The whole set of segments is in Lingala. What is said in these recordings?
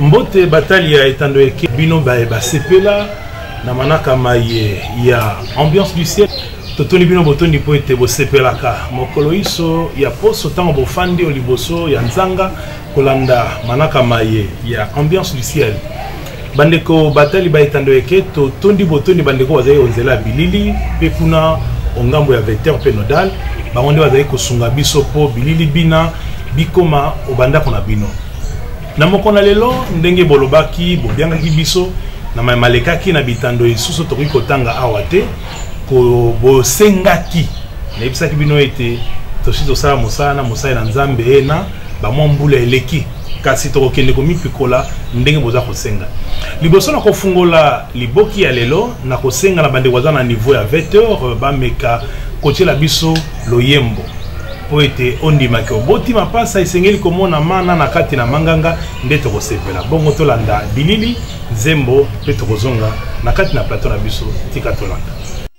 mbote batali ya etando eke bino baye basepela na manaka maye ya ambiance du ciel totoni bino botondi mpo ete bosepelaka mokolo iso ya poso ntango bofandi o liboso ya nzanga kolanda manaka maye ya ambiance du ciel bandeko batali ba etando eke totondi botondi bandeko bazali onzela ya bilili mpe kuna ongambo ya vecteur mpe nodal bango nde bazali kosunga biso mpo bilili bina bikoma obandako na bino na moko na lelo ndenge bolobaki bobiangaki biso na mai malekaki na bitando lisusu tokoki kotanga awa te bosengaki nayebisaki bino ete tosi tosala mosala na mosali na nzambe ena bamwa mbula eleki kasi tokokende komipikola ndenge boza kosenga liboso na kofungola liboki ya lelo na kosenga na bandeko baza na niveau ya 20 heures euh, bameka kotyela biso loyembo mpo ete ondimaki oboti mapasa esengeli komona mana na kati na manganga nde tokosepela bongo tolanda bilili nzembo mpe tokozonga na kati na plateau na biso tika tolanda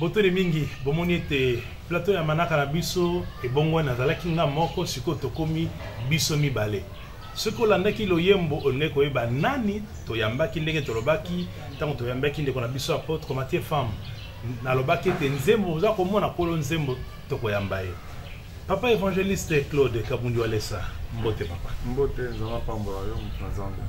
botoni mingi bomoni ete plateau ya manaka na biso ebongwani nazalaki nga moko sikoyo tokomi biso mibale soki olandaki loyembo olingi koyeba nani toyambaki ndenge tolobaki ntango toyambaki ndeko na biso apotre matie femme nalobaki ete nzembo oza komona kolo nzembo tokoyamba ye Papa évangéliste Claude Kabundi Walesa, mbote papa. Mbote nzambe apambola yo moto na nzambe.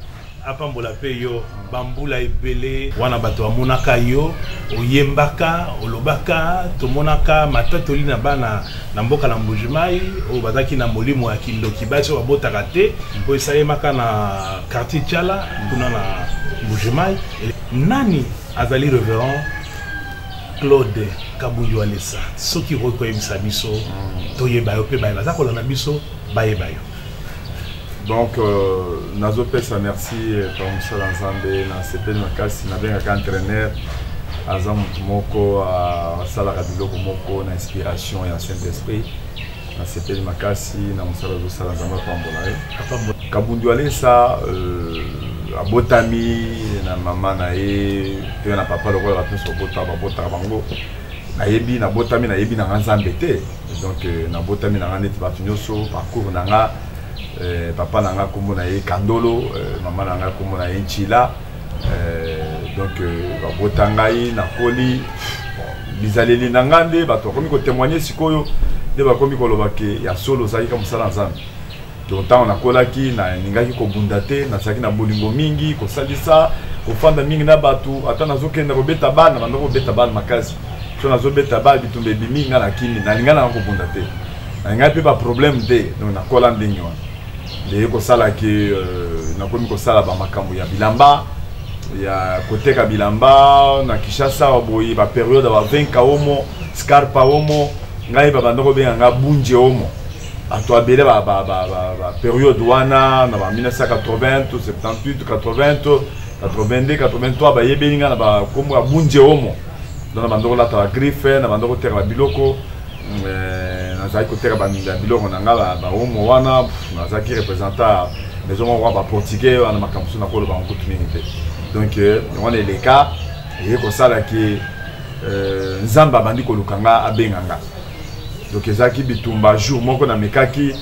Apambola mpe yo mm. bambula ebele. Wana bato bamonaka yo oyembaka olobaka tomonaka matatoli na bana na mboka na Mbujimai oyo bazalaki na molimo ya kindoki basi oyo babotaka te mm. oyo esalemaka na quartier Tshala kuna na Mbujimai. Nani azali reverend Claude Kabuyo Alessa, soki okoki koyebisa biso mm. toyeba yo mpe baye baza kolanda biso bayeba yo. donc euh, nazopesa merci mpa euh, mosala nzambe nasepeli makasi nabengaka entraîneur aza motu moko asalaka biloko moko na inspiration ya saint esprit nasepeli makasi na mosala ozosala nzambe apambola ye kabundu alesa euh, abotami na mama na ye mpe na papa lokola bato nyonso babota babotaka bango nayebi nabotami nayebi na nga nzambe te donc euh, nabotami na nga neti bato nyonso parcours na nga euh, papa na nga nkombo na ye kandolo mama na nga nkombo na ye ncila Euh, donc euh, babota ngai nakoli bizaleli na ngai nde bato bakomi kotemoigne sikoyo nde bakomi koloba ke ya solo ozalaki ka mosala ya nzambe donc ntango nakolaki nalingaki kobunda te nazalaki na bolingo mingi kosalisa kofanda mingi na bato ata nazokenda kobeta bana banda kobeta bana makasi so nazobeta bana bitumba ebimi ngai na kimi nalinga nanga kobunda te nalingaki mpe baproblème te donc nakola ndenge wana eye kosala ke euh, nakomi kosala bamakambo ya bilamba ya koteka bilamba na kinshasa boye baperiode ba 20 kaomo scarpa omo ngai babanda kobenga ngai bunje omo bato abele baperiode wana na ba 1980 to 78 80 to 82 83 bayebeli ngai na bakombo ya bunje omo donc na banda kolata bagriffe na banda koteka babiloko nazalaki koteka baminda biloko na ngai baomo wana nazalaki representa maison moko ya baportugais wana makambo mosusu nakoloba yango kutu mingi te donc euh, yango na eleka eye kosala ke euh, nzambe abandi koluka nga abenga nga donc ezalaki bitumba jour moko namekaki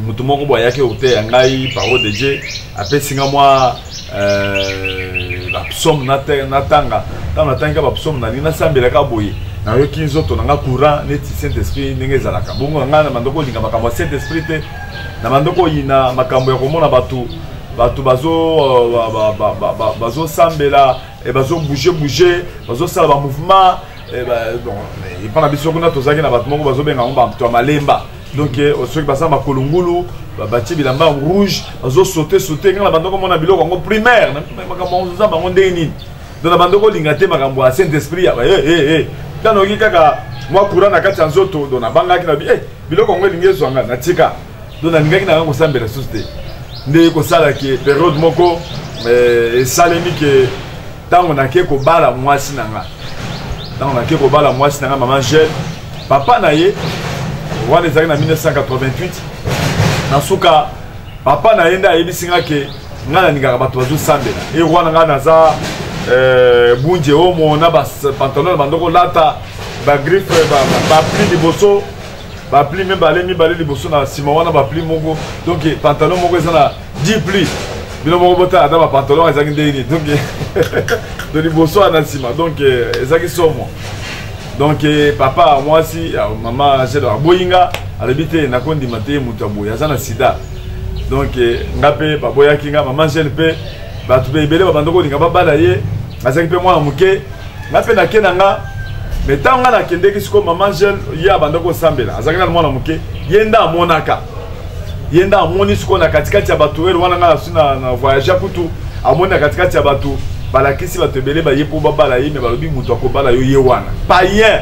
moto moko boye ayaki koteya ngai parole de dieu apesi nga mwa euh, bapsaume natanga ntango natangika bapsaume nalingi nasambelaka boye nayoki nzoto na nga courant neti saint esprit ndenge ezalaka bongo na ngai na bandoko olinga makambo ya saint esprit te na bandoko oyina makambo ya komona bato bato bazosambela euh, eh, bazobouge bouge bazosala bamouvement eh, epa na biso kuna tozalaki na bato moko bazobenga yango bato ya malemba donc eh, oh, soki baza makolo ngulu batie bilamba rouge bazosote sote ngai na bandoko mona biloko yango primaire makambo yango oza bango ndenge nini donc na bandoko olinga te makambo ya saint esprit ya eh, eh, ntango oyoki kaka mwa courant na kati ya nzoto donc nabangaki na biloko yango elingi ezwa ngai natika donc nalingaki na ngai kosambela lisusu te nde kosala ke periode moko esalemi ke ntango nake kobala mwasi na nga ntango nake kobala mwasi na nga mama jeune papa na ye wana ezalaki na 1988 na suka papa na ye nde ayebisi nga ke ngai nalingaka bato bazosambela e wana ngai naza eh, bunje omo na bapantalon na bandoko lata bagriffe bapli liboso bapli mibale mibale liboso na nsima wana bapli moko donc pantalon moko eza na 10 pli bino moko botala ata bapantalon ezalaki ndenge nini donc to liboso wana nsima donc eh, ezalaki somo donc eh, papa mwasi mama angele aboyi nga alobi te nakondima te moto ya boye aza na sida donc eh, nga mpe baboyaki nga mama angele mpe bato mpe ebele babanda kolinga babala ye azalaki mpe mwana moke nga mpe nake na nga me ntango nga nakendeki sikoyo mama jeune ye abandaki kosambela azalaki nano mwana moke ye nde amonaka ye nde amoni sikoyo na katikati ya bato ele wana nga nasi na voyage kutu amoni na katikati ya bato balakisi bato ebele baye mpo babala ye me balobi moto akobala yo ye wana payen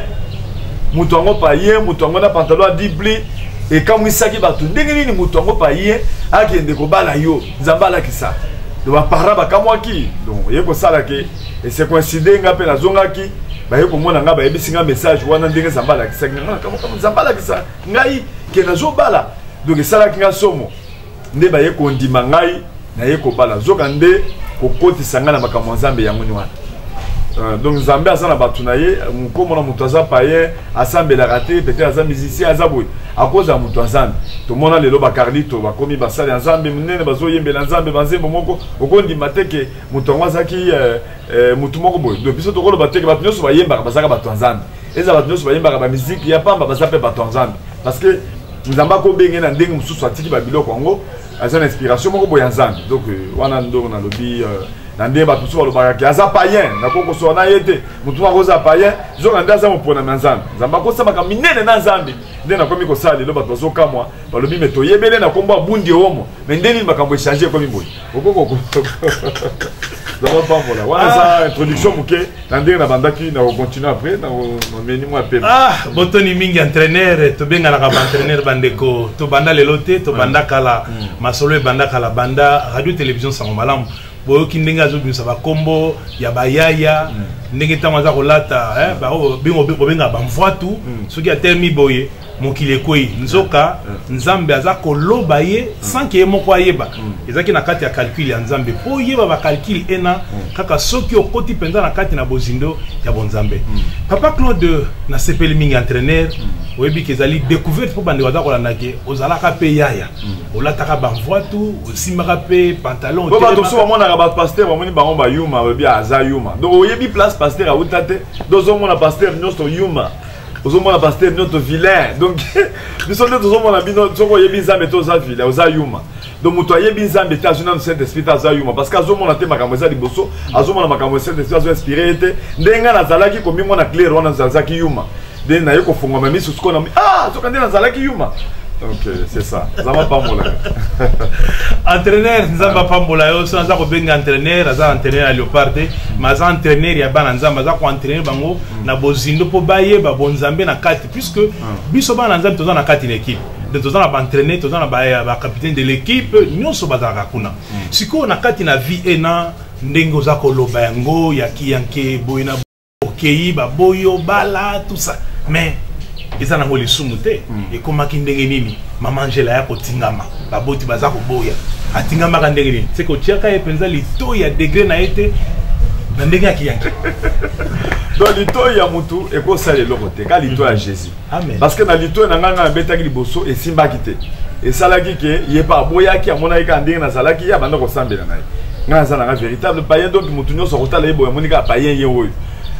moto yango payen moto yango na pantalo ya dibli ekamwisaki bato ndenge nini moto yango payen akende kobala yo nzambe alakisa baparent bakamwaki donc ye kosala ke et c'est coïncide nga pe na zongaki baye komona nga bayebisi nga message wana ndenge zamba alakisaki nga ah, kama zamba alakisa ngai ke nazobala donc esalaki nga somo nde baye kondima ngai naye kobala nzoka nde kokotisa ngai na makambo ya nzambe yango ni wana Euh, donc nzambe aza na bato na ye mokomona moto aza payen asambelaka te peut-être aza musicien aza boye akozala moto ya nzambe tomona lelo bacarlito bakomi basali ya nzambe monene bazoyembela nzambe banzembo moko okondima te ke moto yango azalaki eh, eh, motu moko boye do biso tokoloba teke bato nyonso bayembaka bazalaka bato ya nzambe ezala bato nyonso bayembaka bamiziki ya pamba baza mpe bato ya nzambe parce que nzambe akobenge na ndenge mosusu atiki babiloko yango aza na inspiration moko boye ya nzambe donc euh, wana ndongo nalobi euh, na ndenge bato mosusu balobaka ke aza payen nakoki kosola na ye te motu moko akoza payen zoka nde aza moponami ya nzambe nzambe akosamaka minene na nzambe nde nakomi kosala lelo bato bazokamwa balobi me toyebele na nkombo abundi omo me nde nini makambo echange ekomi boye zaba pambola wana eza ah. introduction moke na ndenge na bandaki na kocontinue après na mameni mwa pepe ah, botoni mingi entraîneur tobenganaka baentraîneur bandeko tobanda lelo te tobanda mm. kala mm. masolo ebanda kala banda radio télévision sango malamu boyoki ndenge azobimisa bakombo ya bayaya mm. ndenge ntango aza kolata eh, bingo bobenga bamvwatu soki atelemi boye mokili ekwei nzoka nzambe aza koloba ye sans ke ye moko ayeba ezalaki na kati ya calcul ya nzambe mpo oyeba bacalcul ena kaka soki okoti mpenza na kati na bozindo ya bonzambe papa claude nasepeli mingi entraîneur oyebi ke ezali découverte mpo bandeko aza kolanda ke ozalaka mpe yaya olataka bamvwatu osimbaka mpe pantalon bato mosusu bamonaka bapaster bamoni bango bayuma oyebi aza yuma donc oyebi place paster auta te donc ozomona paster nyonso yuma ozomona pasteur bino to vilain donc biso nde tozomona bino soki oyebi nzambe te oza vilain oza yuma donc moto ayebi nzambe te azwi nanu saint esprit te aza yuma parce que azomona te makambo eza liboso azomona makambo ya saint esprit azo inspire ye te ndenge ngai nazalaki komimona claire wana nazalaki yuma nde naye kofungwama miso sikoyo na ah soki nde nazalaki yuma ok c'est ça nzambe apambola yo entraîneur nzambe apambola yo so aza kobenga entraîneur aza entraîneur ya léopard te mais aza entraîneur ya bana nzambe aza koentraîneur bango na bozindo mpo bayeba bonzambe na kati puisque ah. biso bana na nzambe toza na kati na ekipe donc toza na baentraîne toza na bacapitaine de l'équipe nyonso bazalaka kuna hmm. sikoyo na kati na vie ena ndenge oza koloba yango ya kiyanke boye na okei baboyi obala tusa mais eza nango lisumu te hmm. ekomaki ndenge nini mama angela ya kotingama baboti baza koboya atingamaka ndenge nini se kotiaka ye mpenza litoi ya degre na ye te na ndenge ya kiyangi donc litoi ya motu ekosala eloko te ka litoi ya jésus parce que na litoi na ngai ngai nabetaki liboso esimbaki te esalaki ke ye mpe aboyaki amonaki kaka ndenge nazalaki ye abanda kosambela na ye ngai naza nanga véritable payen donc motu nyonso akotala ye boye amoni kaka payen ye oyo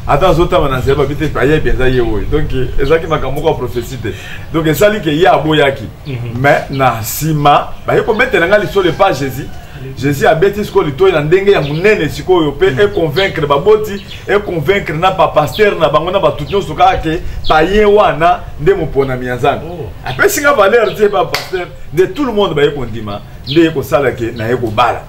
ata azotama na nzela babi te payen mpenza ye oyo donc ezalaki makambo moko ya prophétie te donc esali ke ye aboyaki mhm. mais na nsima baye kobetela ngai lisolo epa jésus jésus abeti sikoyo litoi na ndenge ya monene sikoyo mpe mm. econvaincre baboti econvaincre na bapaster na bango na bato nyonso kaka ke payen wana nde moponami ya nzambe oh. apesi nga valeur te bapaster nde tout le monde baye kondima nde ye kosala ke naye kobala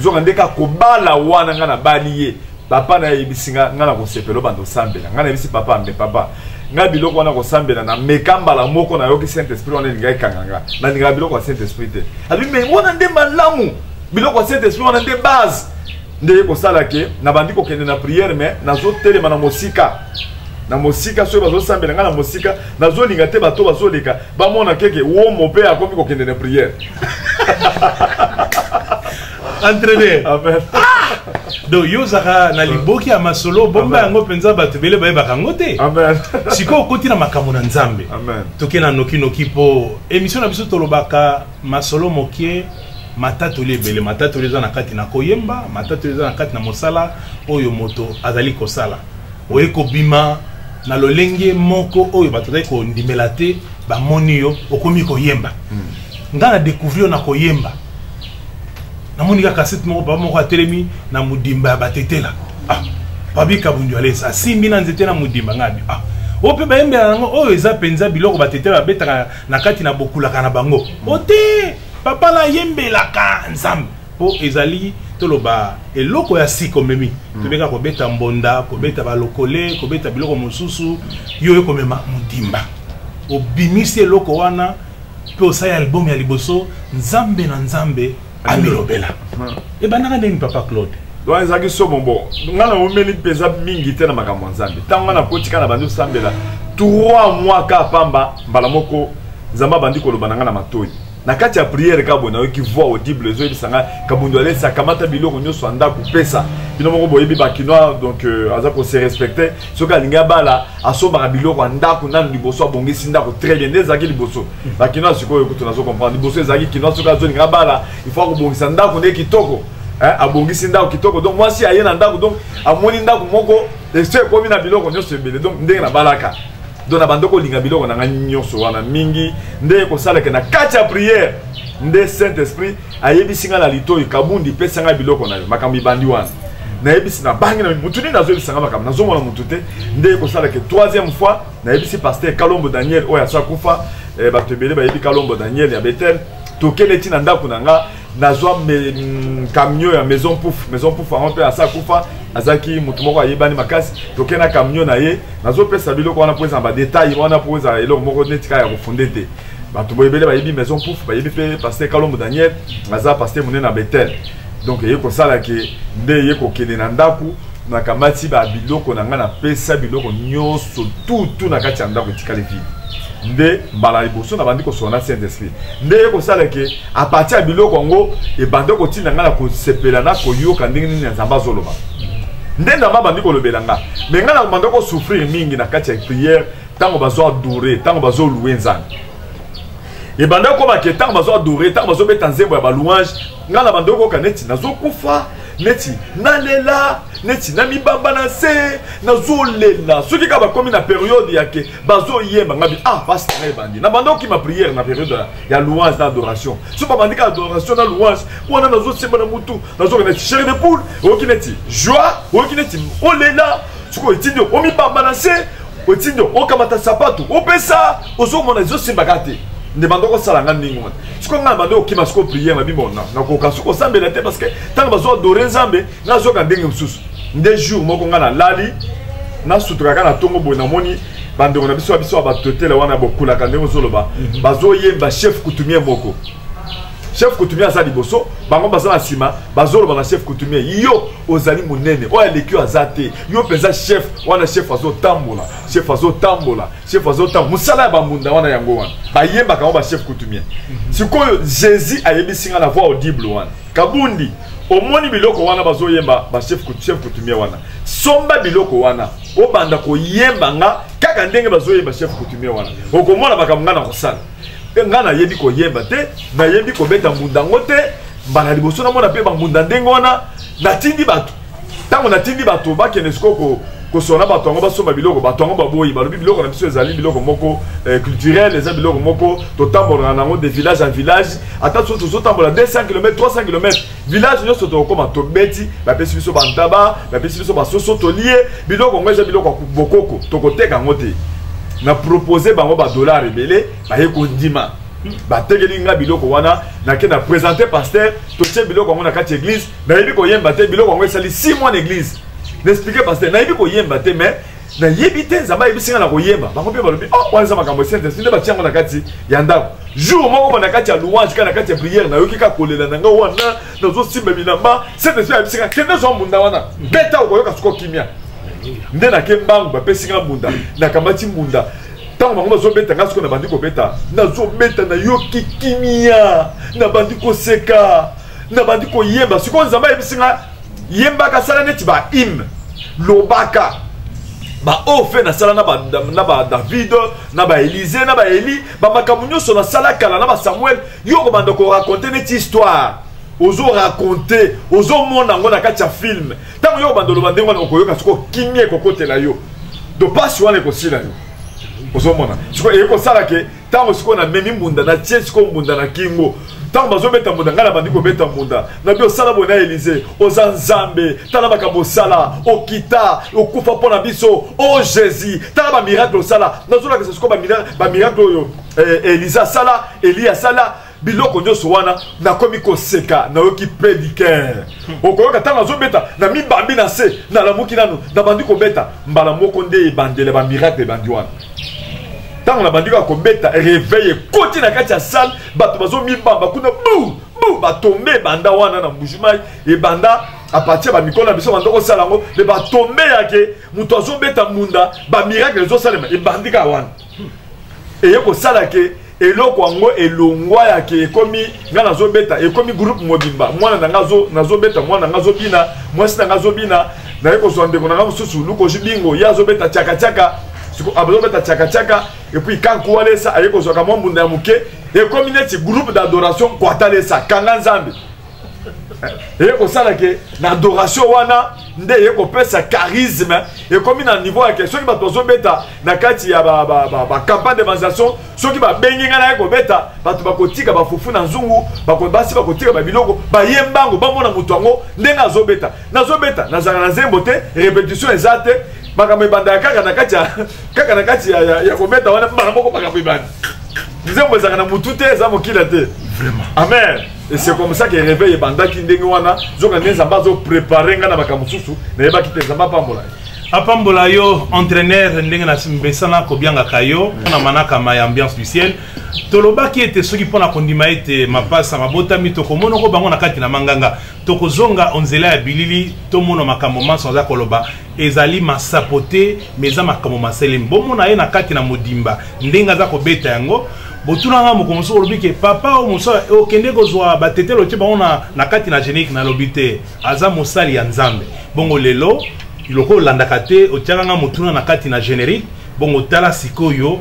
zoka nde kaka kobala wana ngai nabali ye papa nayebisi nga ngai nakosepela obanda osambela ngai nayebisi papa ambe papa ngai biloko wana kosambela na meka mbala moko nayoki saint esprit wana elinga ekanga nga nalingaka biloko ya saint esprit te alobi me wana nde malamu biloko ya saint esprit wana nde base nde ye kosala ke nabandi kokende na priere me nazotelema na mosika na mosika soki bazosambela ngai na mosika nazolinga te bato bazoleka bamona keke womo mpe akomi kokende na priere entraîneur amen donc yo ozalaka na liboki ya masolo bomba yango mpenza bato ebele bayebaka yango te sikoyo okoti na makambo na nzambe toke na nokinoki mpo émission na biso tolobaka masolo mokie matatoli ebele matatoli eza na kati na koyemba matatoli eza na kati na mosala oyo moto azali kosala oye kobima na lolenge moko oyo bato bazali kondimela te bamoni yo okomi koyemba hmm. ngai na découvrir na koyemba namoni kaka site moko papa moko atelemi na modimba ya batetela ah, pabi kabundu alesa asimbi na nzete na modimba ngai abi ah, oyo mpe bayembela yango oyo eza mpenza biloko batetela babetaka na kati na bokulaka na bango ote papa nayembelaka nzambe mpo ezali toloba eloko ya sika omemi hmm. tobeka kobeta mbonda kobeta balokole kobeta biloko mosusu yo oye komema modimba obimisi eloko wana mpe osali album ya liboso nzambe na nzambe amilobela hmm. ebandaka ndeni papa claude wana ezalaki somo bo ngai naomeli mpenza mingi te na makambo ya nzambe ntango ngai nakotika na bandi osambela 3 mois ka pamba mbala moko nzambe abandi koloba na ngai na matoi na kati ya priere kaka boye nayoki voix audible ezoyebisa ngai kabundu alesa kamata biloko nyonso ya ndako pesa bino moko boyebi bakinois donc euh, aza kose respecte soki alingi abala asombaka biloko ya ndako nanu liboso abongisi ndako très bien nde ezalaki liboso bakinois sikoyo kutu nazo comprendre liboso ezalaki kinois soki azolinga abala il faut akobongisa ndako nde kitoko abongisi ndako kitoko donc mwasi aye na ndako donc amoni ndako moko esi ekomi na biloko nyonso ebele donc ndenge nabalaka donc nabanda kolinga biloko na ngai nyonso wana mingi nde kosalaka na kati ya priere nde saint esprit ayebisi ngai na litoi kabundi pesa ngai biloko na yo makambo ibandi wana nayebisi nabangi na motu nini nazoyebisa ngai makambo nazomona motu te nde kosalaka troisième fois nayebisi paster kalombo daniel oyo asa kufa eh, bato ebele bayebi kalombo daniel ya betel tokende ntina ndako na ngai nazwa mm, camion ya maison pouf maison pouf yango mpe asa kufa azalaki moto moko ayebani makasi toke na camion na ye nazopesa biloko wana mpo eza na badetail wana mpo eza eloko moko neti kaka ya kofunde te bato boye ebele bayebi maison pouf bayebi mpe paster kalombo daniel aza paster monene na betel donc eye kosala ke nde eye kokende na ndako nakamati babiloko na ngai napesa biloko nyonso tutu na kati ya ndako etikali vide nde mbala liboso nabandi kosola na saint esprit nde ye kosala ke apartir ya biloko yango ebande kotinda ngai na kosepela na koyoka ndenge nini ya nzambe azoloba nde nzambe abandi kolobela ngai me ngai nabanda kosouffrir mingi na kati ya priere ntango bazo adore ntango bazolue nzambe ebanda kokoma ke ntango bazo adore ntango bazobeta nzembo ya balouange ngai nabanda kokoka neti nazokufa neti nalela neti namibamba na nse nazolela soki kaka bakomi na periode yake bazoyemba ngabi ah pasi na ngai ebandi na banda okima priere na periode ya louange na adoration so babandi ka adoration na louange wana nazosemba na motu nazokenda ti chere de poule oyoki neti joie oyoki neti olela sikoyo etindi omibamba na se otindi okamata sapato opesa ozomona ezosimba ka te nde banda okosala nga ndenge wana sikoyo ngai banda okima sikoyo priere na bimona nakoka sikoyo osambela te parce que ntango bazoadore nzambe nazoka ndenge mosusu nde jour moko ngai nalali nasutulaka na ntongo boye namoni bandeko na biso ya biso ya batotele wana bokulaka ndenge ozoloba mhm. bazoyemba chef coutumier moko chef coutumier aza liboso bango baza na nsima bazoloba na chef coutumier yo ozali monene oyo aleki oyo aza te yo mpenza chef wana chef azotambola chef azotambola chef azotambola mosala ya bambunda wana yango wana bayembaka yango bachef coutumier mhm. sikoyo jésus ayebisi ngai na voix audible wana Kabundi, omoni biloko wana bazoyemba ba chef chef coutumier wana. Somba biloko wana, obanda koyemba nga kaka ndenge bazoyemba chef coutumier wana. Okomona makambo nga na kosala. Eh, nga nayebi koyemba te, nayebi kobeta mbunda ngo te, mbala liboso namona mpe bambunda ndenge wana, natindi bato ntango natindi bato bakende sikoyo kosona bato yango basomba biloko bato yango baboyi balobi biloko na biso ezali biloko moko eh, culturel eza biloko moko totambolaka nango de village en village ata so tozotambola 200 km 300 km village nyonso tokokoma tobeti bapesi biso bantaba bapesi biso basoso tolie biloko yango eza biloko ya bokoko tokoteka yango te na propose bango badollar ebele baye kondima batekeli nga biloko wana nake na presente paster totie biloko yango na kati ya eglise nayebi koyemba te biloko yango esali si mwa na eglise naexplike paster nayebi koyemba te mais nayebi te nzambe ayebisi ngai na koyemba bango mpe balobi oh, wana eza makambo ya saint-esprit nde batya yango na kati ya ndako jour moko ba na kati ya louange kaka na kati ya priere nayoki kaka kolela na ngai wana nazosimba bilamba saint-esprit ayebisi ngai kende zwa mbunda wana beta okoyoka soko kimia nde nake mbangu bapesi ngai mbunda nakamati mbunda ntango bango bazobeta ngai soko nabandi kobeta nazobeta nayoki kimia nabandi koseka nabandi koyemba sikoyo nzambe ayebisi nga yembaka sala neti ba hymne lobaka baoyo mpe nasala na badavid na baelize na baeli bamakambo nyonso nasala kala na basamuel yo okobanda korakonte neti histoire ozorakonte ozomona yango na kati ya filme ntango yo okobanda oloba ndenge wana okoyoka soko kimia ekokotela yo dopasi wana ekosila yo ozomona siko eyekosala ke ntango sikoyo namemi mbunda natie sikoyo mbunda na kingo ntango bazobeta mbunda ngai nabandi kobeta mbunda nabi osala boye na elize oza nzambe tala makambo osala okita okufa mpo na biso o oh, jésus tala bamiracle osala nazolakisa sikoyo bamiracle oyo eh, elize asala elie asala biloko nyonso wana nakomi koseka nayoki pe liker okoyoka ntango azobeta na mibambi na se nalamuki nano nabandi kobeta mbala moko nde ebandela bamiracle ebandi wana ntango nabandi kaka kobeta reveil ekoti na kati ya salle bato bazomibamba kuna bu bu batombe ebanda wana na mbujimai ebanda apartir bamikolo na biso banda kosala yango me batombe yake moto azobeta mbunda bamiracle ezosalema ebandi kaka wana eye kosala ke eloko yango elongwa ya ke ekomi ngai nazobeta ekomi groupe mobimba mwana na ngai nazobeta mwana na ngai azobina mwasi na ngai azobina naye kozwa ndeko na ngai mosusu lukoji bingo ye azobeta chakachaka azobeta chakachaka epuis kankualesa aye kozwaka mwa mbunda ya moke ekomi neti groupe d'adoration kwatalesa kanga nzambe eye kosala ke na adoration wana nde eye kopesa charisme ekomi na niveau yake soki bato bazobeta na kati ya bacampagne de manisation soki babengi ngai naye kobeta bato bakotika bafufu na nzungu basi bakotika babiloko baye mbango bamona moto yango ndenge azobeta nazobeta nazala na nzembo te repetition eza te makambo ebandaka kaka na kati ya kaka na kati ya kobeta wana mbala moko makambo ebanda nzembo ezalaka na motu te eza mokila te amen et c'est comme ça que réveil ebandaki ndenge wana zoka nde nzambe azoprépare ngai na makambo mosusu nayebaki te nzambe apambola ye apambola yo entraîneur ndenge namesana kobiangaka yo na manakama ya ambiance du ciel tolobaki ete soki mpo na kondima ete mapasa mabotami tokomonoko bango na kati na manganga tokozonga onzela ya bilili tomona makambo manso aza koloba ezali masapo te mais eza makambo maselemi bomona ye na kati na modimba ndenge aza kobeta yango botuna nga mokolo mosusu olobi ke papa oyo mosala okende kozwa batetelo tye bango na kati na génique nalobi te aza mosali ya nzambe bongo lelo lokola olandaka te otyaka nga motuna na kati na générique bongo tala sikoyo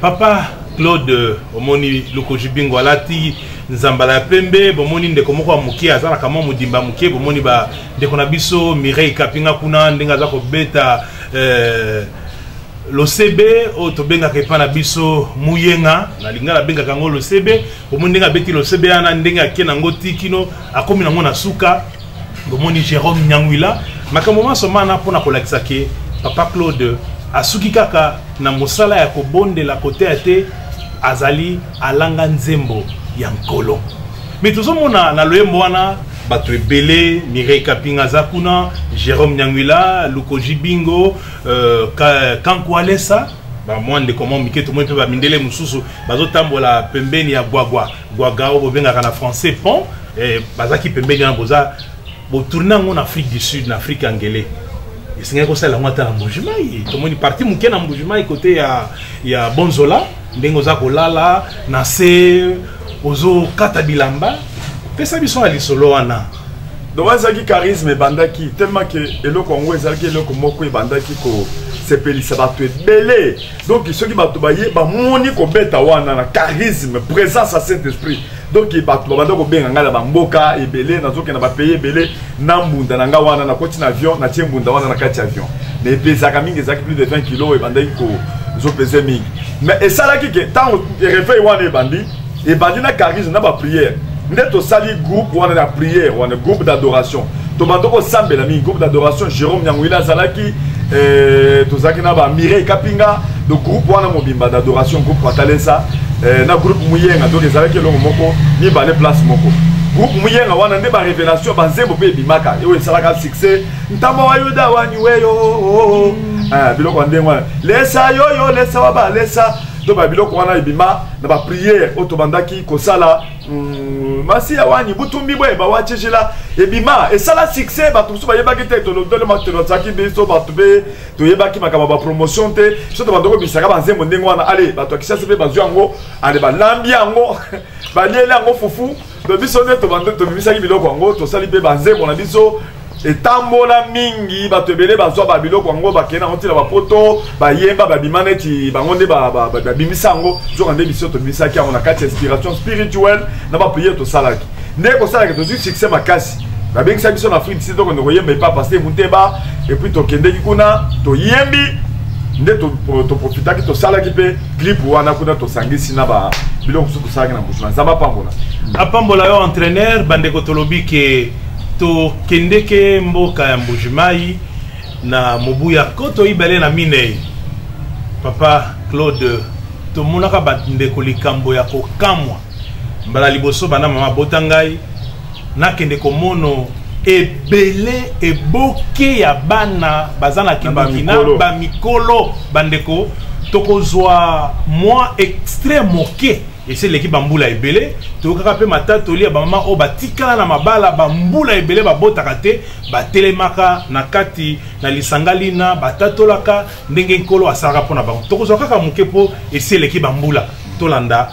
papa claude omoni lokoji bingo alati nzambala ya pembe bomoni ndeko moko ya moke azalaka mwa modimba moke bomoni bandeko na biso mireille kapinga kuna ndenge aza kobeta eh, losebe oyo tobengaka epai na biso muyenga na lingala abengaka yango losebe omoni ndenge abeti losebe yana ndenge ake nango ti kino akomi nango na suka bomoni jérôme nyangwila makambo manso mana mpo na kolakisa ke papa claude asuki kaka na mosala ya kobondela koteya te azali alanga nzembo ya nkolo me tozomona na loyembo wana bato ebele mireille kapinga aza kuna jérôme nyangwila lukoji bingo uh, kankualesa bamwa ndeko mwa mike tomoni mpe bamindele mosusu bazotambola pembeni ya gwagwa Guagao bobengaka na français pont eh, bazaki pembeni wana boza botourne yango na Afrique du Sud na Afrique angele esengeli kosala yango ata na Mbujimayi tomoni parti moke na Mbujimayi kote ya, ya Bonzola ndenge oza kolala na se ozokata bilamba pesa biso na lisolo wana donc wana ezalaki charisme ebandaki tellement ke eloko yango ezalaki eloko moko ebandaki kosepelisa bato ebele donc soki bato baye bamoni kobeta wana na charisme présence ya saint esprit donc bato babanda kobenga ngai na bamboka ebele nazokende na bapays ebele na mbunda na ngai wana nakoti na avion natie mbunda wana na kati ya avion na epesaka mingi ezalaki plus de 20 kilo ebandaki kozopese mingi mais esalaki ke ntango reveil wana ebandi ebandi na charisme na baprière nde tosali groupe wana na prière wana groupe d'adoration tobanda kosambela mingi groupe d'adoration jérôme nyanguila azalaki eh, tozalaki na bamireille kapinga do groupe wana mobimba d'adoration groupe patalesa eh, na groupe muyenga donc ezalaki elongo moko mibale place moko groupe muyenga wana nde barévélation banzembo mpe ebimaka oyo esalaka succès ntambo wa yuda waniweyo oh, oh, oh. mm. ah, biloko ya ndenge wana lesa yoyo lesa wa balesa to ba biloko wana ebima na ba prière oyo tobandaki kosala mm, masi ya wani butumbi boye bawacecela ebima esala succès bato mosusu bayebaki te tolotolemakelozaki biso bato mpe toyebaki makambo ya bapromotion te biso tobandoko bisaka banzembo ndenge wana ale bato ya kisasi mpe bazwi yango ale balambi yango balieli yango fufu to biso nde tobimisaki biloko yango tosali mpe banzembo na biso etambola mingi bato ebele bazwa babiloko yango bakei nango ntina bapoto bayemba babima neti bango nde babimisa yango nzoka nde biso tobimisaki yango na kati ya inspiration spirituelle na bapriere tosalaki nde kosalaki tozwi succès makasi babengisa biso na afrique sud tokende koyemba epa paster muteba epuis tokendeki kuna toyembi nde toprofitaki to tosalaki mpe clip wana kuna tosangisi na ba biloko mosusu tosalaki na mbusu na nzambe apambola apambola yo entraîneur bandeko tolobi ke tokendeke mboka ya mbujimai na mobu ya koto mibale na minei papa claude tomonaka bandeko likambo ya kokamwa mbala liboso banda mama abota ngai nakende komono ebele eboke ya bana baza na kindoki na bamikolo bandeko tokozwa mwa extrait moke esi eleki bambula ebele toyokaka mpe matatoli ya bamama oyo batikala na mabala bambula ebele babotaka te batelemaka na kati na lisanga lina batatolaka ndenge nkolo asalaka mpo na bango tokozwa kaka moke mpo esi eleki bambula tolanda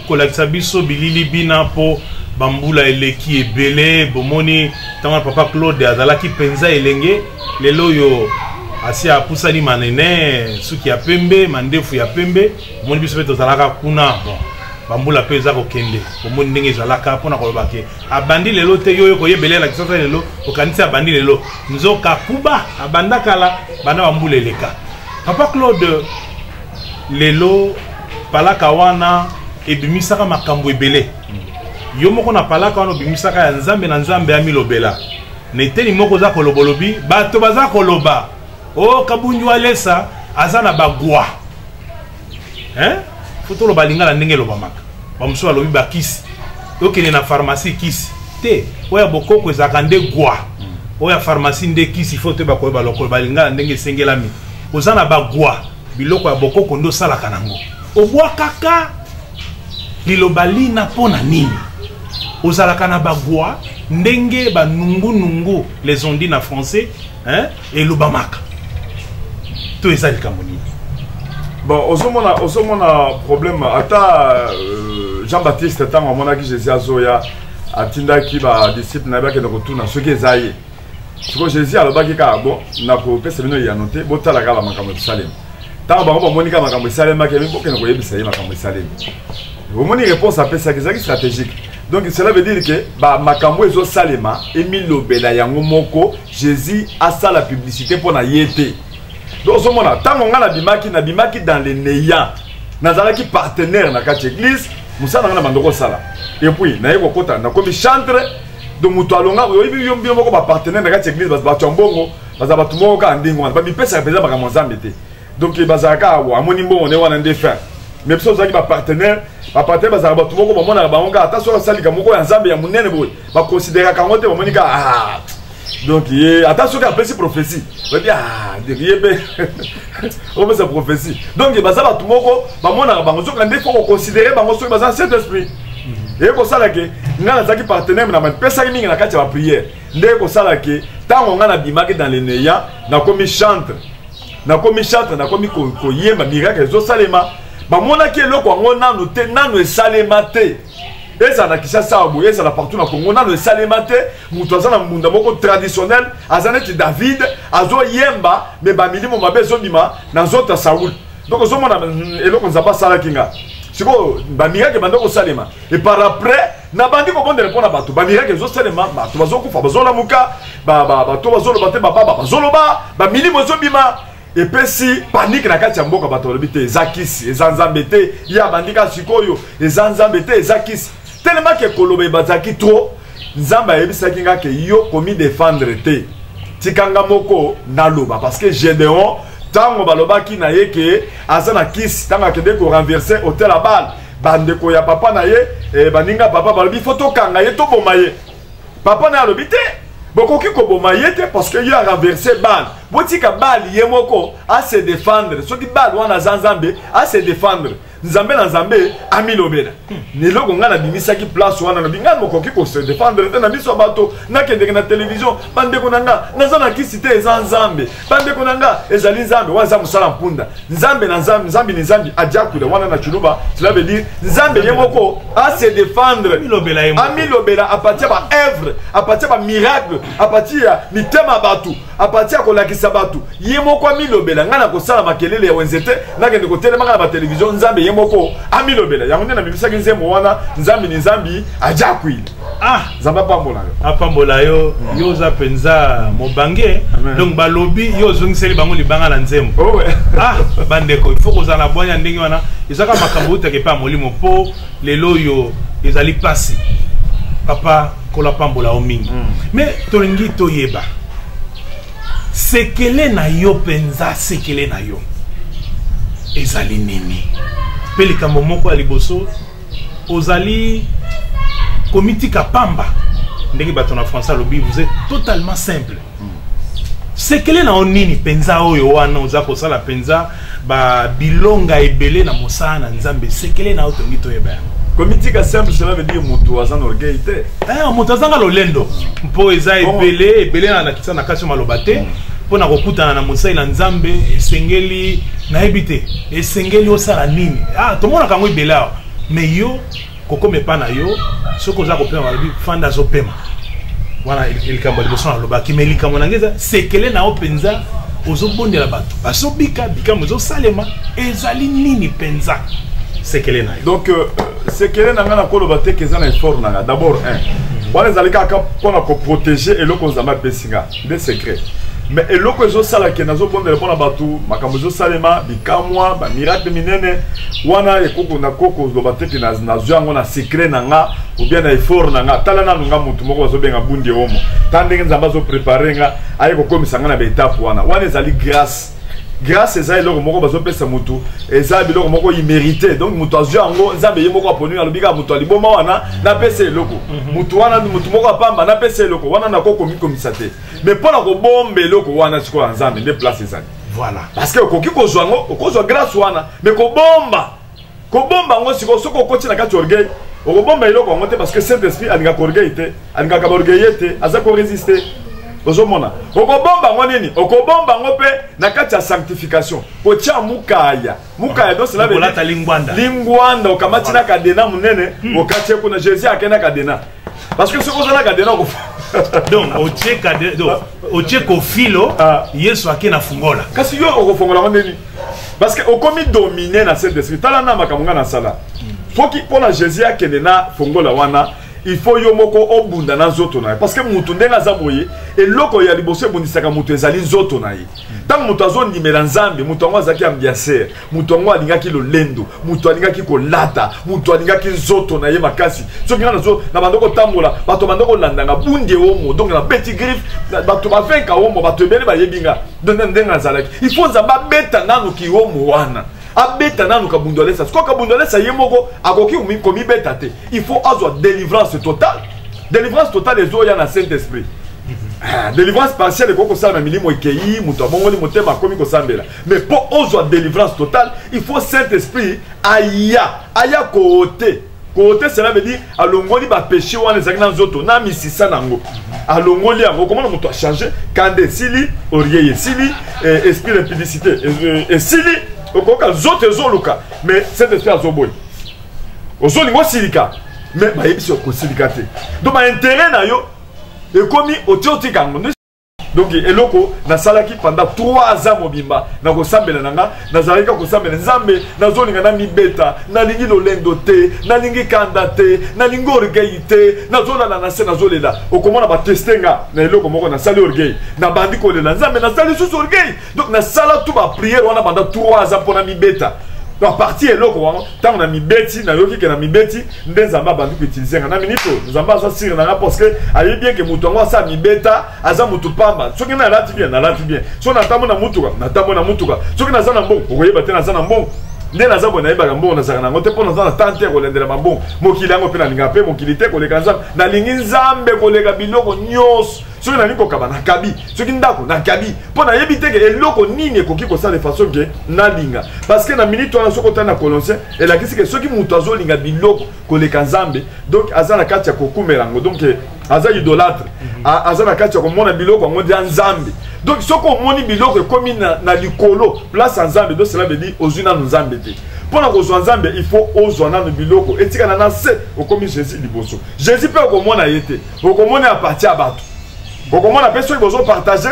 kolakisa biso bilili bina mpo bambula eleki ebele bomoni ntango ya papa claude azalaki mpenza elenge lelo oyo asi apusani manene suki ya pembe mandefu ya pembe omoni biso mpe tozalaka kuna bon bambula mpe eza kokende omoni ndenge ezalaka mpona koloba ke abandi lelo te yo oyo koyebele elakisa ta lelo okanisi abandi lelo nzoka kuba abanda kala banda bambula eleka papa claude lelo palaka wana ebimisaka makambo ebele yo moko na palaka wana obimisaka ya nzambe na nzambe amilobela na eteni moko oza kolobolobi bato baza koloba o oh, kabunju alesa aza na bagwa fo toloba lingala ndenge elobamaka bamosusu balobi bakisi okende na pharmacie kisi te oyo ya bokoko ezalaka nde gwa oyo ya pharmacie nde kisi fo toyeba koyeba lokolo balingala ndenge esengelami oza na bagwa biloko ya bokoko nde osalaka nango obwakaka liloba lina mpo na nini ozalaka na bagwa ndenge banungunungu les ondi na français hein, elobamaka to eza likambo nini bon ozomona ozomona problème ata euh, jean baptiste ntango amonaki jésus azoya atindaki badisiple na ye bakende kotuna soki eza ye siko jésus alobaki kaka bo nakopesa bino eyano te botala kaka bamakambo esalema ntango bango bamoni kaka makambo esalemaki yabi bokende koyebisa ye makambo esalemi omoni réponse apesaki ezalaki stratégique donc cela veut dire ke bamakambo ezosalema emilobela yango moko jésus asala publicité mpo na ye te donc ozomona ntango ngai nabimaki nabimaki dans le néant nazalaki partenaire na kati ya église mosala ngai na bandoko osala epuis naye kokota nakomi chantre donc moto alonga oyebi yo bino moko bapartenaire na kati ya eglise bato ya mbongo baza bato moko kaka ndenge wana bamipesaka mpenza makambo ya nzambe te donc eh, bazalaka kaka wa amoni mbongo nde wana nde fin mais biso tozalaki bapartenaire bapartenaire bazalaka bato moko bamonaka bango kaka ata soki asalika moko ya nzambe ya monene boye bakonsideraka yango te bamoni kaka ah, donc ye ata soki apesi prophesie oyebi ah, ye mpe opesa prophetie donc baza bato moko bamonaka bango soki nde fo koconsidere bango soki baza saint esprit mhm. eye kosala ke ngai nazalaki partenaire na mapesaki mingi na kati ya bapriere nde ekosala ke ntango ngai nabimaki dans le neya nakomi chantre nakomi chantre nakomi koyemba miracle ezosalema bamonaki eloko yango nanu te nanu esalema te ezala na kisasa awa boye ezala partout na congo nanu esalema te moto aza na mbunda moko traditionnel aza neti david azoyemba me bamilimo mabe ezobima na nzoto ya saul donc ozomona mm, eloko nzambe asalaki nga sikoyo bamirake ebanda kosalema e par après nabandi kobondela mpo na bato bamirake ezosalema bato bazokufa bazolamuka bato bazoloba te bababa bazoloba bamilimo ezobima epesi panike na kati ya mboka bato balobi te eza kisi eza nzambe te ye abandi kaka sikoyo eza nzambe te eza kisi telemaki ekoloba ebazalaki trop nzambe ayebisaki nga ke yo komidefendre te tika nga moko naloba parce que gedeon ntango balobaki na ye ke aza na kisi ntango akende korenverse hotel ya bale bandeko ya papa na ye eh, baninga papa balobi fo tokanga ye toboma ye papa naye alobi te bokoki koboma ye te parce que ye arenverse bale botika bale ye moko ase défendre soki bale wana aza nzambe ase défendre nzambe na nzambe amilobela na eloko ngai nabimisaki place wana nabi ngai mokoki kose défendre te na miso ya bato nakendeke na televizio bandeko na ngai naza na kisi te eza nzambe bandeko na nga ezali nzambe wana eza mosala mpunda nzambe na nzambe nzambe ni nzambe adiakuda wana na chiluba cela veut dire nzambe ye moko ase défendre amilobela apartir ba œuvre apartir ba miracle apartir ya mitema bato apartir ya kolakisa bato ye moko amilobela ngai nakosala makelele ya wenze te nakende kotelema ngai na batelevizio nzambe ye moko amilobela yango nde namimisaki nzembo wana nzambe ni nzambe adiakuile Ah, nzambe apambola yo apambola yo hmm. yo oza mpenza mobange donc balobi yo ozongiseli bango libanga na nzembo oh, ah bandeko il faut kozala na bwanya ndenge wana ezaka makambo outaka epai ya molimo mpo lelo oyo ezali mpasi papa kola pambola yo mingi hmm. mais tolingi toyeba sekele na yo mpenza sekele na yo ezali nini mpe likambo moko ya liboso ozali komitika pamba ndenge bato na français alobi vous êtes totalement simple sekele na yo nini mpenza oyo wana oza kosala mpenza babilonga ebele na mosala na nzambe sekele na yo tongi toyeba yango komitika simple cela veut dire moto aza na orgueil te eh, moto azanga lolendo mpo eza ebele ebele na nakisa na kasi maloba te mm. mpo na kokutana na mosali na nzambe esengeli nayebi te esengeli osala nini ah, tomonaka yango ebele awa mais yo kokoma epa na yo soki oza kopema balobi fanda azopema wana likambo ya liboso nalobaki mai likambo nange eza sekele na yo mpenza ozobondela bato bazobika bikambo ezosalema ezali nini mpenza sekele na yo donc euh, sekele na ngai nakoloba te ke eza na effort na ngai d'abord un wana ezali kaka mpo na koprotege eloko nzambe apesi ngai nde secret me eloko ezosala ke nazobondela mpo na bato makambo ezosalema bikamwa bamiracle minene wana ekoko na koko ozoloba te ke nazwi yango na secret na nga obien na effort na nga tala nanu nga motu moko bazobenga bundi omo ta ndenge nzambe azoprepare nga aye kokomisa nga na baetape wana wana ezali grâce grâce eza eloko moko bazopesa motu eza biloko moko imerite donc motu azwi yango nzambe ye moko aponi alobi kaka motu ya liboma wana napesa eloko motu mhm. wana motu moko apamba napesa eloko wana nakoki komikomisa te mais mpo na kobomba eloko wana sikoyo ya nzambe nde place ezali voilà parce que okoki kozwa yango okozwa grâce wana mais kobomba kobomba yango sikoyo soki okoti na kati orgueil okobomba eloko yango te parce que saint esprit alingaka orgueil te alingaka baorgueille te aza koresiste ozomona okobomba yango nini okobomba yango mpe na kati ya sanctification kotya mukaya mukaya donc cela veut lingwanda lingwanda okamati na kadena monene hmm. okati kuna jésus akei na kadena parce que soki oza na kadena okofa donc otie kadena otie kofilo ah. yesu akei na fungola kasi yo okofongola yango ndeni parce que okomi domine na saint esprit tala na makambo ngai nasala soki mpo na jésus akende na fongola wana il faut yo moko obunda na nzoto na ye parce que moto ndenge aza boye eloko ya liboso ebundisaka moto ezali nzoto na ye ntango moto azondimela nzambe moto yango azalaki ambiaser moto yango alingaki lolendo moto alingaki kolata moto alingaki nzoto na ye makasi soki nga nazo na bando kotambola bato bando kolandanga bunde omo donc nabeti griffe bato bavenka omo bato ebele bayebi nga donde ndenge azalaki il faut nzambe abeta nanu kihomo wana abeta nanu kabundu alesa sikoyo kabundu alesa ye moko akoki komibeta te il faut azwa délivrance totale délivrance totale ezoya na saint esprit ah, délivrance partielle ekoki kosala na milimo ekei moto abongoli motema akomi kosambela mais mpo ozwa délivrance totale il faut saint esprit aya aya koote kote cela veut dire alongoli bapeche wana ezalaki na nzoto na misisa na yango alongoli yango okomona moto achange kanda esili oriei esili eh, esprit impudicité eh, esili okoyoka nzoto ezoluka mais cet esprit azoboyi ozolinga osilika mais bayebisi okosilika te donc bainteret na yo ekomi otiotiki yango donc eloko nasalaki pendant 3 ans mobimba na kosambela na nga nazalaki ka kosambela nzambe nazolinga namibeta nalingi lolendo te nalingi kanda te nalingi orgueil te nazolala na se nazolela okomona bateste nga na eloko moko nasali orgueil nabandi kolela nzambe nasali susu orgueil donc nasala tu bapriere wana banda 3 aza mpona mibeta baparti eloko wana ntango na mibeti nayoki ke na mibeti nde nzambe abandi koutilize nga na minute oyo nzambe aza sire na nga parce que ayebi bien ke moto yango asa mibeta aza moto pamba soki nalati bien nalati bien soki natambo na motuka natambo na motuka soki naza na mbongo okoyeba te naza na mbongo nde naza boye nayebaka mbongo nazalaka nango te mpo naza na temps te ya kolendela mabongo mokili yango mpe nalingaka mpe mokili te koleka nzambe nalingi nzambe koleka biloko nyonso soki nalingi kokaba nakabi soki ndako nakabi mpo nayebi te ke eloko nini ekoki kosala façon ke nalinga parce que na minute wana soki otali na coloncien elakisi ke soki moto azolinga biloko koleka nzambe donc aza na kati ya kokumela yango donc eh, aza idolatre mhm. aza na kati ya komona biloko yango nde nzambe donc soki omoni biloko ekomi na, na likolo place ya nzambe donc cela veut dire ozwi nanu nzambe te mpo na kozwa nzambe il faut ozwa nanu biloko etikana na se okomi jésus liboso jésus mpe okomona ye te bokomona ya parti ya bato bokomona mpe soki bozopartage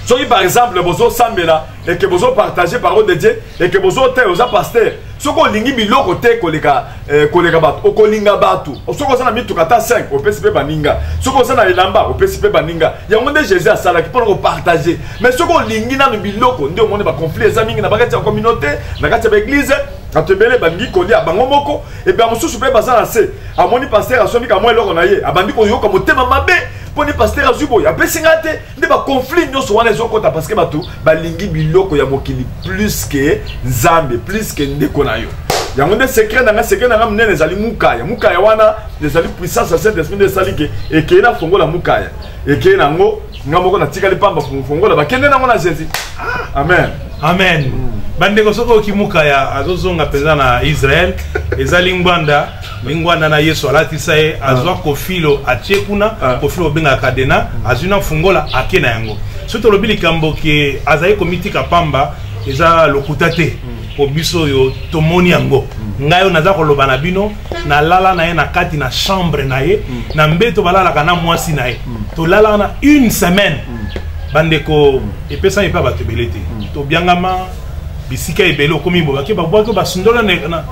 soki par exemple bozosambela eke bozopartage parole de dieu eke bozoteya oza paster soki olingi biloko te koleka eh, koleka bato okolinga bato soki oza na mituka ata 5 opesi mpe baninga soki oza na elamba opesi mpe baninga yango nde jésus asalaki mpona kopartage mais soki olingi nano biloko nde omoni baconflit eza mingi na bakati ya communauté na kati ya baeglize bato ebele balingi kolia bango moko epe ya mosusu mpe baza na se amoni paster asombi kamwa eloko na ye abandi koyoka motema mabe mpo nde paster azwi boye apesi ngai te nde baconflit nyonso wana ezokota parceke bato balingi biloko ya mokili plus ke nzambe plus ke ndeko na yo yango nde secret na ngai secret na ngai monene ezali mukaya mukaya wana ezali puissance ya saint esprit nde esali ke ekei na fongola mukaya ekei na yango nga moko natikali pamba fongola bakende nango na zezi ah, amen amen mm. bandeko soki okimuka ya azozonga mpenza na israel eza lingwanda lingwanda na yesu alatisa ye azwa ah. kofilo atie kuna ah. kofilo obengaka kadena azwi na fungola ake na yango soki tolobi likambo ke azali komitika pamba eza lokuta te mm. po biso oyo tomoni yango mm. ngai oyo naza koloba na bino na lala na ye na kati na chambre na ye mm. na mbeto balalaka na mwasi na ye mm. tolalaka na une semaine mm. bandeko epesami epai bato ebele te tobiangama bisika ebele okomi bo bake babwaki basundola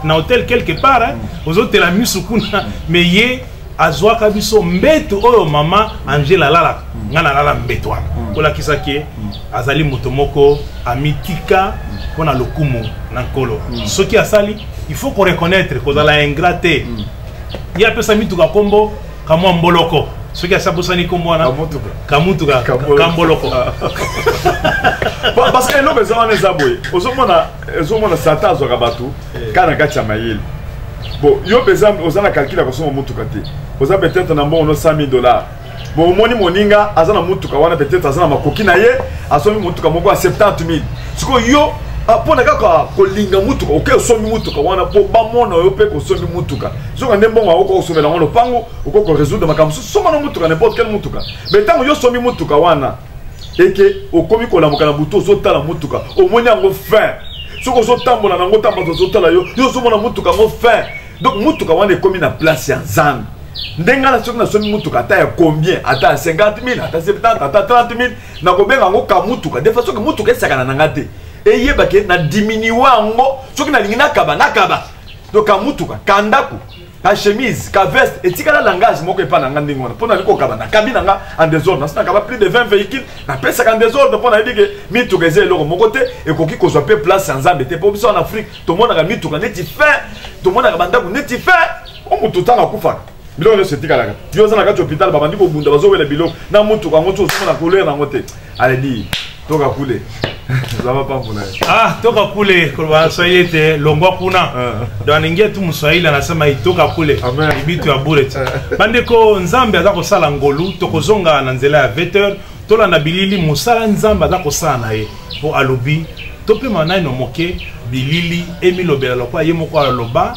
na hotel quelque part eh. ozotela misu kuna me ye azwaka biso mbeto oyo mama angela alalaka ngai nalala mbeto wana kolakisa ke azali moto moko amitika mpo na lokumu na nkolo mm. soki asali il faut koreconnaitre kozala ingrat te mm. ye apesa mituka nkombo kamwa mboloko soki asi abosani nkombo wana kamutuka kamboloko parce que eloko eza wana eza boye ozomona ozomona satan azwaka bato eh. kaka na kati ya mayele bon yo mpenza oza na calcul ya kosomba motuka te oza peut-être na mbongo no 100 000 dollars bomoni moninga aza na motuka wana peut-être aza na makoki na ye asombi motuka moko ya 70 000 sikoyo yo ah, mpo na kaka kolinga motuka oke osombi motuka wana mpo bamona yo mpe kosombi motuka soka nde mbongo akoki kosomela yango lopango okoki koresoudre makambo mosusu soma na motuka n'importe quelle motuka mais ntango yo osombi motuka wana eke okomi kolamuka na butu ozotala motuka omoni yango fin soki ozotambola nango ntango bato ozotala yo yo ozomona motuka yango fin donc motuka wana ekomi na place ya nzambe ndenge nga na soki nasombi motuka ata ya combien ata ya 50 000 ata 70 ata 30 000 nakobenga yango ka motuka defa soki motuka esakana na nga te eyeba ke na diminue yango soki nalingi nakaba nakaba to ka motuka ka ndako ka chemise ka veste etikala langage moko epai na nga ndenge wana mpo nalingi kokaba nakabi na nga en desordre nasi nakaba plus de 20 véhicule napesaka en desordre mpo nayebi ke mituka eza eloko moko te ekoki kozwa mpe place ya nzambe te mpo biso en afrique tomonaka mituka neti fin tomonaka bandako neti fin o moto ntango akufaka biloko nyonso etikalaka yo oza na kati hôpital babandi kobunda bazowela biloko na motuka yango ti ozomona kolere na yango te aledi toka kule zama pambo na ye ah toka kule koloba na swahili ete longwa kuna ah. donc alingi etu moswahili anasema itoka kule ibitu ya bure ti ah. bandeko nzambe aza kosala ngolu tokozonga na nzela ya 20 heures tolanda bilili mosala nzambe aza kosala na ye mpo alobi topema naino moke bilili emilobela lokola ye moko aloba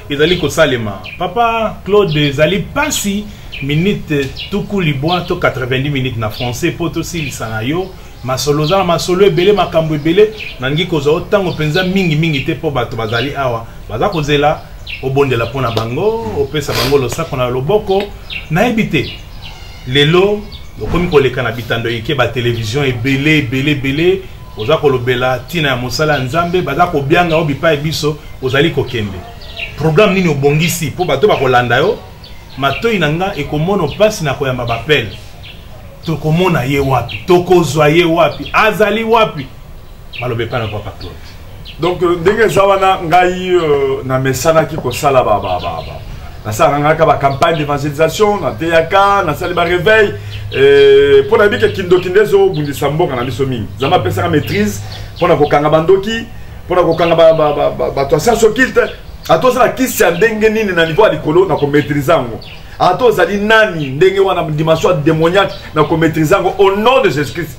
ezali kosalema papa claude ezali mpasi minute tuku libwa to 90 minutes na français mpo tosilisa na yo masolo oza na masolo ebele makambo ebele nalingi kozwa ntango mpenza mingimingi te mpo bato bazali awa baza kozela obondela mpo na bango opesa bango losako na loboko nayebi te lelo okomi koleka na bitando ike ba television ebele ebele ebele oza kolobela ntina ya mosala ya nzambe baza kobyanga yo bipai biso ozali kokende programme nini obongisi mpo bato bakolanda yo matoi na nga ekomona mpasi na koyamba bapele tokomona ye wapi tokozwa ye wapi azali wapi maloba epai na papa claude donc euh, ndenge eza wana ngai euh, namesanaki kosala nasalaka ngaka bacampagne d'évangélisation nateyaka nasali baréveil euh, mpo nayebi ke kindoki nde ezobundisa mboka na biso mingi nzambe apesaka maîtrise mpo na kokanga bandoki mpo na kokanga bato ya science occulte ata ozala kisi ya ndenge nini na niveau ya likolo na komaîtrise yango ata ozali nani ndenge wana dimension ya démoniaque na komaîtrise yango au nom de jésus christ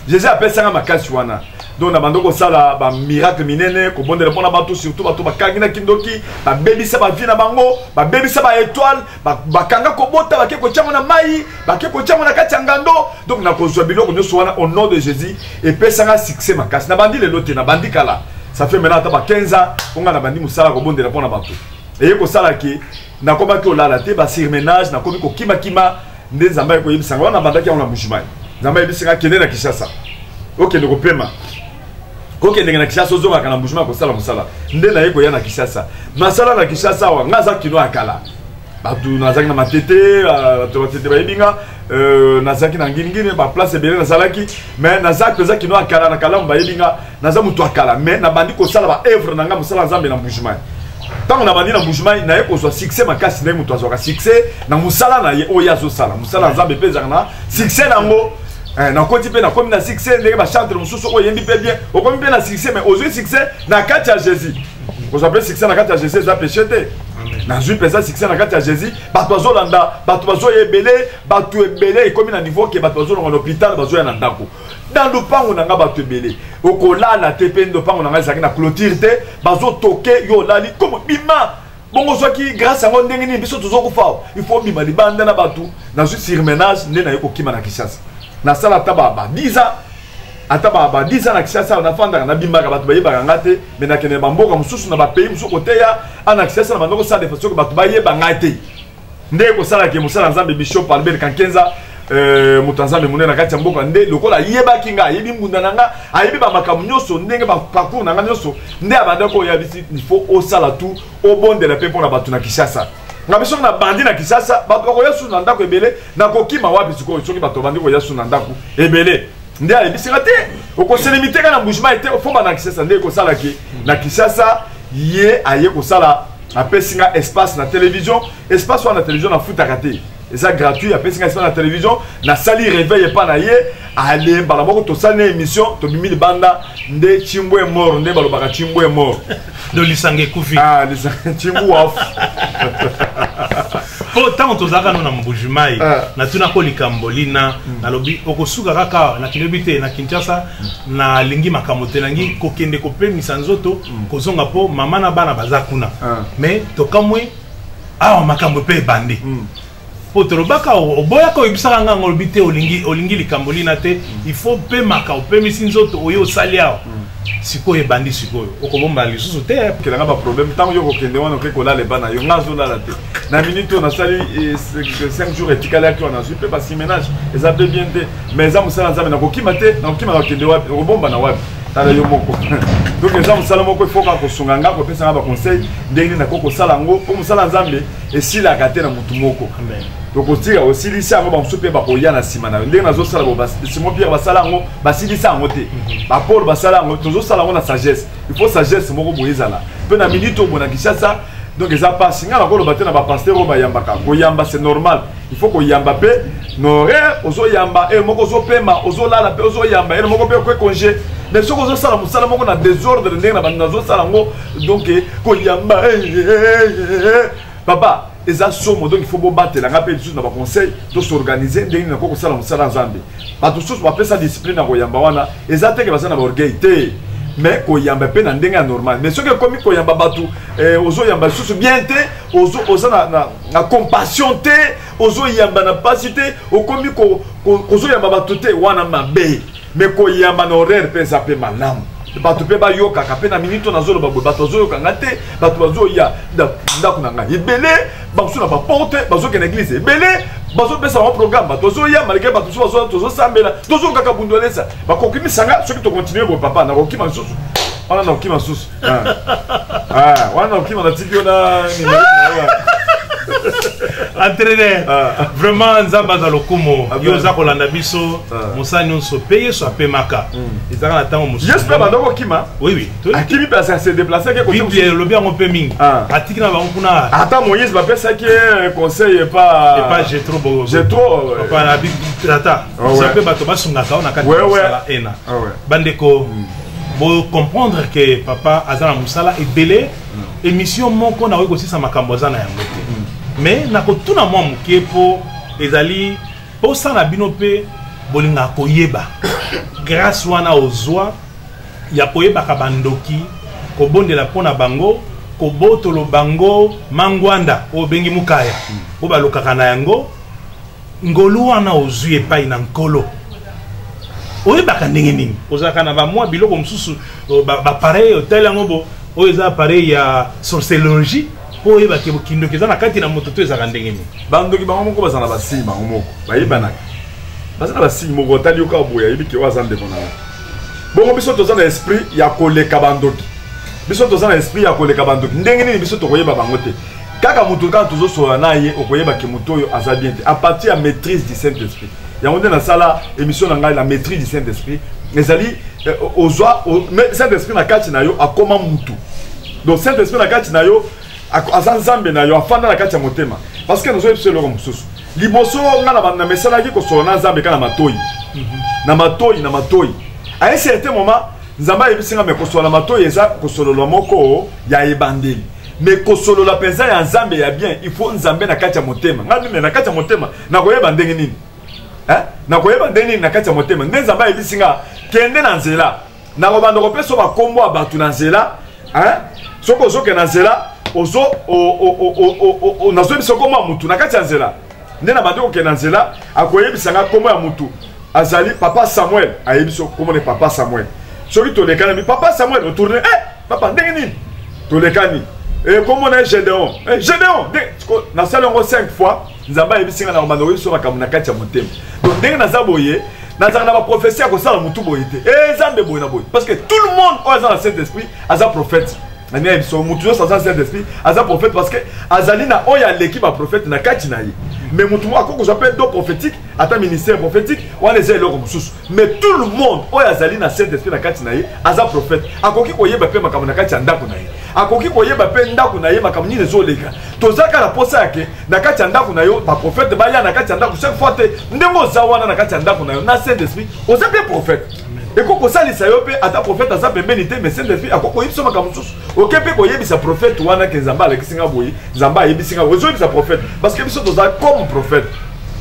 jésus apesanga makasi wana donc na bando kosala bamiracle minene kobondela mpo na bato surtout bato bakangi na kindoki babebisa bavie na bango babebisa baetoile bakanga kobota bake kotyango na mai bake kotyango na kati ya ngando donc nakozwa biloko nyonso wana au nom de jésus epesanga succès makasi nabandi lelo te nabandi kala ça fait maintenant ata ba 15 ans mpo ngai nabandi mosala kobondela mpo na bato eye kosala ke nakomaki olala te basurmenage nakomi kokimakima nde nzambe ayaki koyebisa nga wana nabandaki yango na mujimai nzambe ayebisi nga kende na kinshasa okende kopema kokendeke na kinshasa ozongaka na mujimai kosala mosala nde naye koya na kinshasa nasala na kinshasa awa nga aza kino ya kala bato nazalaki na matete ah, bato matete bayebi nga euh, nazalaki na nginingini baplace ebele nazalaki mais naza mpenza kino ya kala na kalamu bayebi nga naza moto ya kala mais nabandi kosala ba œuvre na ngai mosala nzambe na mbujimai ntango nabandi na mbujimai naye kozwa succès makasi ndenge moto azwaka succès na mosala na ye oyo ye azosala mosala ya nzambe mpe ezalaka na succès na yango Eh, nakoti mpe nakomi na succès ndenge bachantre mosusu oyo oyembi mpe bien okomi mpe na succès mais ozwi succès na kati ya jésus kozwa mpe succès na kati ya jésus eza péché te nazwi mpenza succès na kati ya jésus bato bazolanda bato bazoya ebele bato ebele ekomi na niveau ke bato bazolonga na hôpital bazoya na ndako dans lopango na nga bato ebele okolala te mpe lopango na nga ezalaki na clôture te bazotoke yo olali komo bima bongo ozwaki grâce yango ndenge nini biso tozokufa il faut obima libanda na bato nazwi surmenage nde naye kokima na kinshasa nasala ata baba 10 ans ata baba 10 ans na kinshasa nafandaka nabimaka bato bayebaka nga te me nakende na bamboka mosusu na bapays mosusu koteya ana kinshasa na bandoko sala defa soki bato bayeba ngai te nde kosala ke mosala nzambe bishop albert kankenza euh, moto ya nzambe monene na kati ya mboka nde lokola ayebaki ngai ayebi mbunda na ngai ayebi bamakambo nyonso ndenge baparcour na ngai nyonso nde abandaki oyo yabisi ifo osala tu obondela mpe mpo na bato na kinshasa na biso na bandi na kisasa bato bakoya susu na ndako ebele nakokima wapi sikoyo soki bato bandi koya susu na ndako ebele nde ayebisaka te okoselemi te kaka na mbujima ete ofomba na kisasa nde ekosalaki na kisasa ye aye kosala apesi nga espace na télévision espace wana na télévision nafutaka te eza gratuit apesi nga espace na télévision nasali réveil epa na ye ale mbala moko tosali na émission tobimi libanda nde cimbu e mort nde balobaka cimbu e mort do lisanga ekufi ah, cimbu waf mpo ntango tozalaka no na mbujimai ah. natunako likambo lina hmm. nalobi okosuka kaka na kilobi te na kinshasa hmm. nalingi makambo te nangi kokende kopemisa nzoto kozonga mpo mama na bana baza kuna ah. mais tokamwe awa makambo mpe ebandi hmm. mpo tolobaka oboyaka oyebisaka ngai yango olobi te olingi, olingi likambo lina te hmm. il faut opemaka opemisi nzoto oyo osali awa hmm. sikoyo ebandi sikoyo okobomba lisusu te kelanga baproblème ntango yo kokende wana oke kolala ebana yo ngai azolala te na minute oyo nasali 5 jours etikali yaki wana nazwi mpe basimenage eza mpe bien te mais eza mosala nzambe nakokima te nakokima nakokende wapi okobomba na wapi tala yo moko donc eza mosala moko ifo kaka kosunga nga kopesa nga baconseil ndenge nini nakoki kosala yango mpo mosala ya nzambe esilaka te na motu moko tokotika osilisi yango bamosusu mpe bakoya na nsima na yo ndenge nazosala bo simon pierre basala yango basilisa yango te mhm. bapole basala yango tozosala yango na sagesse ifo sagesse moko boye ezala mpe na minute oyo bona kinshasa donc eza mpasi ngai nakoloba te na bapaster oyo bayambaka koyamba c'est normal il faut koyamba mpe noraire ozoyamba ere eh, moko ozopema ozolala mpe ozoyamba ere eh, moko mpe okwe congé mais soki ozosala mosala moko na desordre ndenge na bandi nazosala yango donc eh, koyamba papa eza somo donc il faut bobatela ngai mpe lisusu na baconseil tosorganize ndenge nako kosala mosala nzambe bato mosusu bapesa discipline na koyamba wana eza teke baza na baorgueil te mais koyamba mpe na ndenge ya normal mais soki ekomi koyamba bato eh, ozoyamba lisusu bien te ozo, oza na, na, na compassion te ozoyamba na mpasi te okomi kozoyamba ko, ko, bato te wana mabe mais koyamba na horaire mpe eza mpe malamu bato mpe bayokaka mpe na miniti oyo nazoloba boye bato bazoyoka nga te bato bazoya ndako na ngai ebele bamosusu na baporte bazokende eglize ebele bazopesa bango programe tozoya malgre bato mosusu bazoya tozosambela tozongaka bundolesa bakoki misanga soki tokontinue boye papa nakokima lisusu wana nakokima lisusu ah. Ah, wana nakokima natiki yo na entraîneur ah. vraiment nzambe aza lokumu ah, yo oza kolanda biso ah. mosala nyonso mpe yesu apemaka hmm. ezalaka na ntango mosusu yesu mpe abanda kokima oui oui akimi place ya se déplace ake biblia elobi yango mpe mingi ah. atiki na bango kuna ata moïse bapesaki ye conseil epa epa jetro jetro tata oza mpe bato basungaka yo na kati ya mosala ena ah bandeko hmm. bocomprendre ke papa aza na mosala ebele hmm. émission moko nakoki kosisa makambo aza na yango te hmm. mais nakotuna mwa moke mpo ezali mposa na bino mpe bolingaka koyeba grâce wana ozwa ya koyebaka bandoki kobondela mpo na bango kobotolo bango mangwanda oyo bengi mukaya hmm. oyo balokaka na yango ngolu wana ozwi epai na nkolo oyebaka ndenge nini ozalaka na bamwa biloko mosusu bapareil ba otali yango bo oyo eza apareil ya sorcelologie mpo oyeba ke bokindoki eza na kati na moto to ezalaka ndenge nini bandoki bango moko baza na basigne bango moko bayebanaka baza na basigne moko otali yoka boye ayebi ke oyo aza ndeko na yo bongo biso toza na esprit ya koleka bandoki biso toza na esprit ya koleka bandoki ndenge nini biso tokoyeba bango te kaka moto kaka tozosolola na ye okoyeba ke moto oyo aza bien te a partir ya maîtrise du saint esprit yango nde nasala émission na ngai la maîtrise du saint esprit ezali eh, ozwa saint esprit na kati na yo akoma motu donc saint esprit na kati na yo aza nzambe na yo afanda na kati ya motema parce que nazoyebisa eloko mosusu liboso nga na banda mesalaki kosola na nzambe ka na matoi mhm. na matoi na matoi a un certain moment nzambe ayebisi nga me kosola na matoi eza kosololwa moko ya ebandeli me kosolola mpenza ya nzambe ya bien il faut nzambe na kati ya motema ngai mime na kati ya motema nakoyeba ndenge nini nakoyeba ndenge nini na kati ya motema nde nzambe ayebisi nga kende na nzela nakobanda kopesa yo bakombo ya bato na nzela soki ozokende na nzela nazoyebisa nkombo ya motu na kati ya nzela nde na bandi kokende na nzela akoyebisa ngai nkombo ya motu azali papa samuel ayebisi nkombo ne papa samuel soki tolekanami papa samuel otourne e eh, papa ndenge nini tolekani eh, nkombo na ye gedeon eh, gedeon nasali yango 5 fois nzambe ayebisi nga na kobanda koyebisi yo makambo na kati ya motema donc ndenge naza boye nazalaka na baprofesi ya kosala motu boye te e nzambe boye na boye parce que tout le monde oyo aza na saint esprit aza prophète nani ayebi so motu nyonso aza saint esprit aza prophète parce que azali na oyo aleki baprofete na kati na ye mais motu moko akoki kozwa mpe do prophétique ata ministère prophétique wana eza eloko mosusu mais tout le monde oyo azali na saint esprit na kati na ye aza prophète akoki koyeba mpe makambo na kati ya ndako na ye akoki koyeba mpe ndako na ye makambo nini ezoleka toza kaka na mposa yake na kati ya ndako na yo baprofete baya na kati ya ndako chaque fois te ndenge oza wana na kati ya ndako na yo na saint esprit oza mpe prophète ekoki kosalisa yo mpe ata profete aza pembeni te mais saint esprit akoki koyebisa makambo mosusu oke mpe koyebisa profete wana ke nzambe alakisi nga boye nzambe ayebisi nga boye ezoyebisa profete parce que biso toza comme profete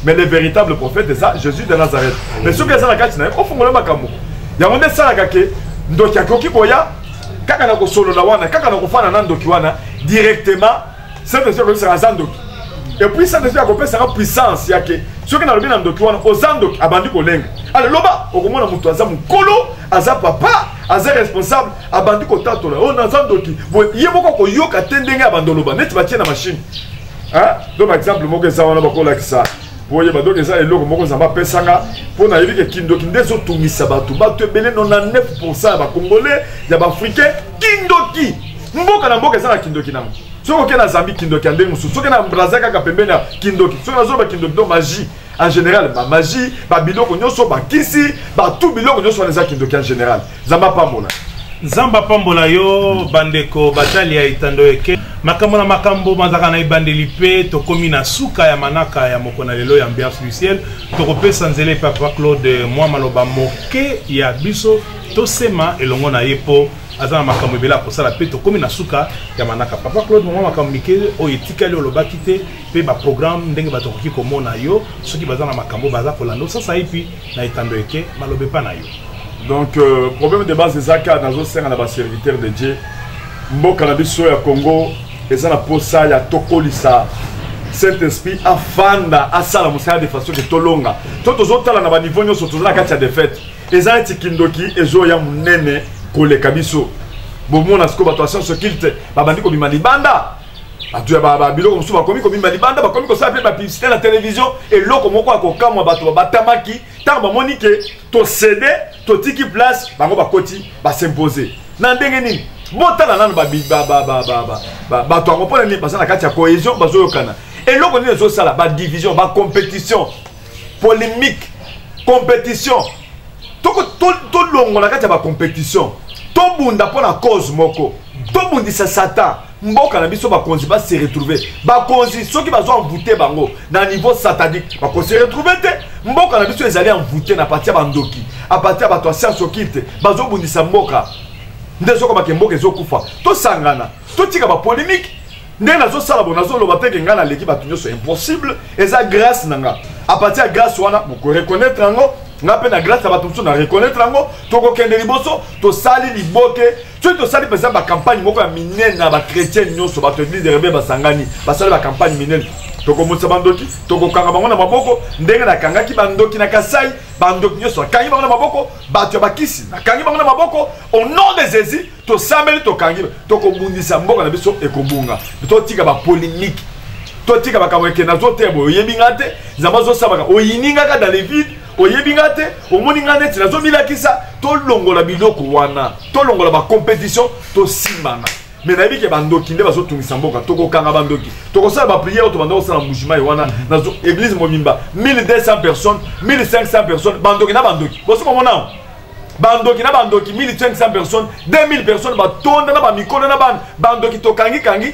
mais le véritable prophète eza jésus de nazareth mais soki eza na kati na ye ofongola makambo yango nde esalaka ke ndoki akoki koya kaka na kosolola wana kaka na kofana na ndoki wana directement saint esprit akoyebisaka aza ndoki epuis saint esprit akopesaka puissance yake soki nalobi na ndoki wana oza ndoki abandi kolenga ale loba okomona moto aza mokolo aza papa aza responsable abandi kotatola oyo oh, naza ndoki ye moko koyoka te ndenge abandi oloba neti batie na mashine to na exemple moko eza wana bakolakisa boyeba donc eza eloko moko nzambe apesanga mpo nayebi ke kindoki nde ezotungisa bato bato ebele 99 pourcent ya bacongolais ya baafricain kindoki mboka na mboka eza na kindoki nango soki oke na zambi kindoki ya ndenge mosusu soki na braza kaka pembeni ya kindoki soki nazoloba kindoki to magie en général bamagie babiloko nyonso bakisi batu biloko nyonso wana eza kindoki en général nzambe apambola nzambe apambola yo bandeko batali ya etando eke makambo na makambo mazalaka na ebandeli mpe tokomi na suka ya manaka ya moko na lelo ya ambiance du ciel tokopesa nzela epai papa claude mwa maloba moke ya biso tosema elongo na ye mpo aza na makambo ebele akosala mpe tokómi na suka ya manaka papa claude mama makambo mike oyo etikali olobaki te mpe baprogramme ndenge bato akoki komona yo soki baza na makambo baza kolanda osasa epi na etando eke maloba epa na yo donc euh, problème de base eza kaka nazosenga na baserviteur de dieu mboka na biso ya congo eza na posa ya tokolisa saint esprit afanda asala mosala de façon ke tolonga to tozotala na baniveau nyonso toza na kati ya defaite eza neti kindoki ezoya monene koleka biso bomona sikoyo bato ya science occulte babandi kobima libanda bato ya babiloko mosusu bakomi kobima libanda bakomi kosala mpe bapiblisite na televizio eloko moko ya kokamwa bato babatamaki ntango bamoni ke tosede totiki place bango bakoti basimpose na ndenge nini botala nano bato yango mpona nini baza na kati ya cohésion bazoyokana eloko nini ezosala badivision bacompétition polémique compétition tolongola kati ya bacompétition tobunda mpo na cause moko tobundisa satan mboka na biso bakonzi ba se retrouver bakonzi soki bazo envoute bango na niveau satanique bako se retrouver te mboka na biso ezali envoute na parti ya bandoki a parti ya bato ya science occulte bazobundisa mboka nde ezokoma ke mboka ezokufa tosangana totika bapolémique ndenge nazosala bo nazoloba mpe ke ngai naleki bato nyonso impossible eza grâce na nga a partir ya grâce wana bokoreconnaitre yango nga mpe na grâce ya bato mosusu na reconnaitre yango tokokende liboso tosali liboke soki tosali mpenza bakampagne moko ya minene na bachrétien nyonso bato eglise de rebel basangani basali bakampagne minene tokomonisa bandoki tokokanga bango na maboko ndenge nakangaki bandoki na kasai bandoki nyonso nakangi bango na maboko bato ya bakisi nakangi bango na maboko au nom de jésus tosambeli tokangi tokobundisa mboka na biso ekobunga totika bapolemike totika makambo ekenda zote boye oyebi nga te nzambe azosalaka oyini ngaka dans le vide oyebi nga te omoni nga neti nazomilakisa tolongola biloko wana tolongola bacompétition tosimbana me nayebi ke bandoki nde bazotungisa mboka tokokanga bandoki tokosala bapriere oyo tobanda kosala mbujimayi wana na église mobimba 1200 personnes 1500 personnes bandoki na bandoki bosi komonao bandoki na bandoki 1500 personnes 2000 personnes batonda na bamikolo na bana bandoki tokangi kangi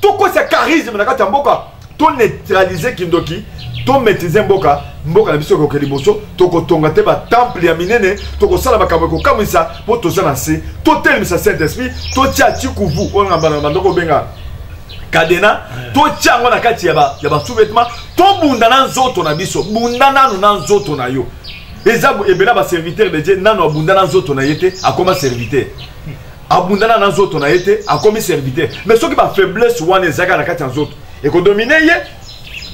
tokosa charisme na kati ya mboka to neutraliser kindoki to maîtriser mboka mboka na biso ekoke liboso tokotonga te batemple ya minene tokosala makambo ekokamwisa mpo toza na nse totelemisa saint esprit totya tikuvu oyo na bana bandoko obenga kadena totya yango na kati ya basous-vêtement tobunda na nzoto na biso bunda nanu na nzoto na yo eza ebela baserviteur de dieu nanu abunda na nzoto na ye te akoma serviteur abundana na nzoto na ye te akomi serviteur mais soki bafaiblesse wana ezalaka na kati ya nzoto ekodomine ye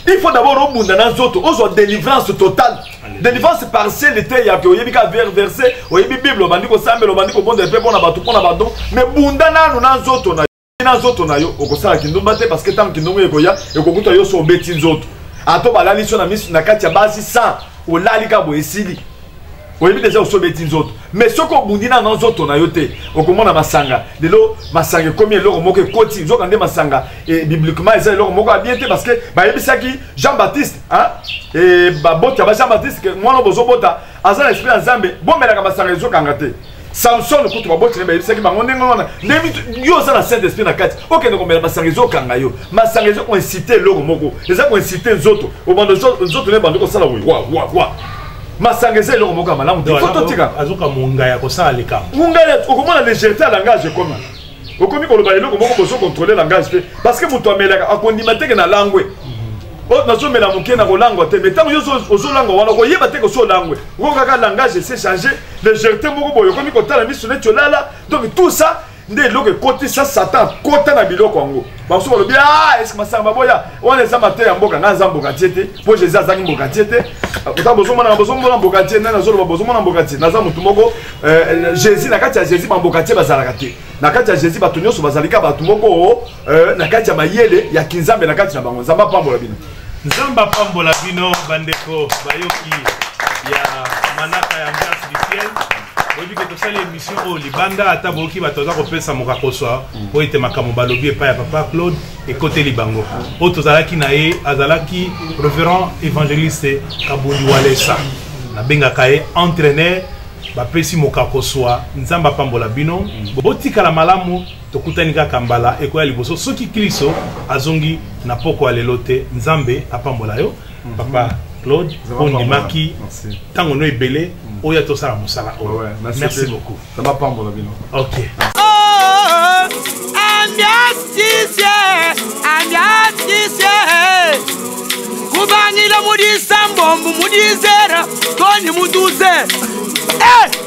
il faut d'abord obunda na nzoto ozwa délivrance totale délivrance partielle te yake oyebi ka ver verse oyebi bible obandi kosambela obandi kobondela mpe mpo na bato mpo na badon mais bunda nanu na nzoto na yo na nzoto na yo okosala kindumba te parce que ntango kindumba ekoya ekokuta yo so obeti nzoto ato balalisi yo na miso na kati ya basi 100 olali ka boye esili oyebi deja osi obeti nzoto mais soki obundi nano na nzoto na yo te okomona masanga lelo masanga ekomi eloko moko ekoti nzoka nde masanga e, bibliquement eza eloko moko abie te parce que bayebisaki jean baptiste e, baboti ya ba jean baptiste ke mwana bozobota aza na esprit ya nzambe bomelaka masanga ezokanga te samson kutu baboti na bayebisaki bango ndenge wana ndenge yo oza na saint esprit na kati okende komela masanga ezokanga yo masanga eza koinsite eloko moko eza koinsite nzoto obanda nzoto na ebanda kosala wawawa masanga eza eloko moko ya malamu te totika azoka monga ya kosala likambo monga ya okomona légèreté ya langage ekoma okomi koloba eloko moko bozo contrôler langage te parce que moto amelaka akondima teke na langwe Oh, nazomela moke na kolangwa te mais ntango yo ozolangwa wana okoyeba te kosi olangwe oko kaka langage ese change légèreté moko boye okomi kotala miso neti olala donc tout ça nde eloko ekotisa satan kota na biloko yango basusu balobi ah, eske masanga maboya wana eza mateya ya mboka ngai aza mbokatie te mpo jésus azangi mbokatie te ata bozomonana bozomona mbokatie nani azoloba bozomona mbokatie naza motu moko euh, jésus na kati ya jésus bambokatie bazalaka te na kati ya jésus bato nyonso bazalika bato moko euh, na kati ya mayele ya kinzambe na kati na bango nzambe apambola bino nzambe apambola bino bandeko bayoki ya manaka ya ambiance du ciel oyebi ke tosali émission oyo libanda ata boyoki bato aza kopesa mokakoswa mpo ete makambo balobi epai ya papa claude ekoteli bango oyo tozalaki na ye azalaki reverend évangéliste kabundi walesa nabengaka ye entraîneur bapesi mokakoswa nzambe apambola bino botikala malamu Tokutani kaka mbala ekoya liboso soki Klisto azongi na poko ya lelo te. Nzambe apambola yo mhm. papa Claude ondimaki ntango no ebele mhm. oya tosala mosala oyo. Merci beaucoup. Ça va pambola bino. OK. kubangila mudisa mbombu mudizera koni mutuze eh!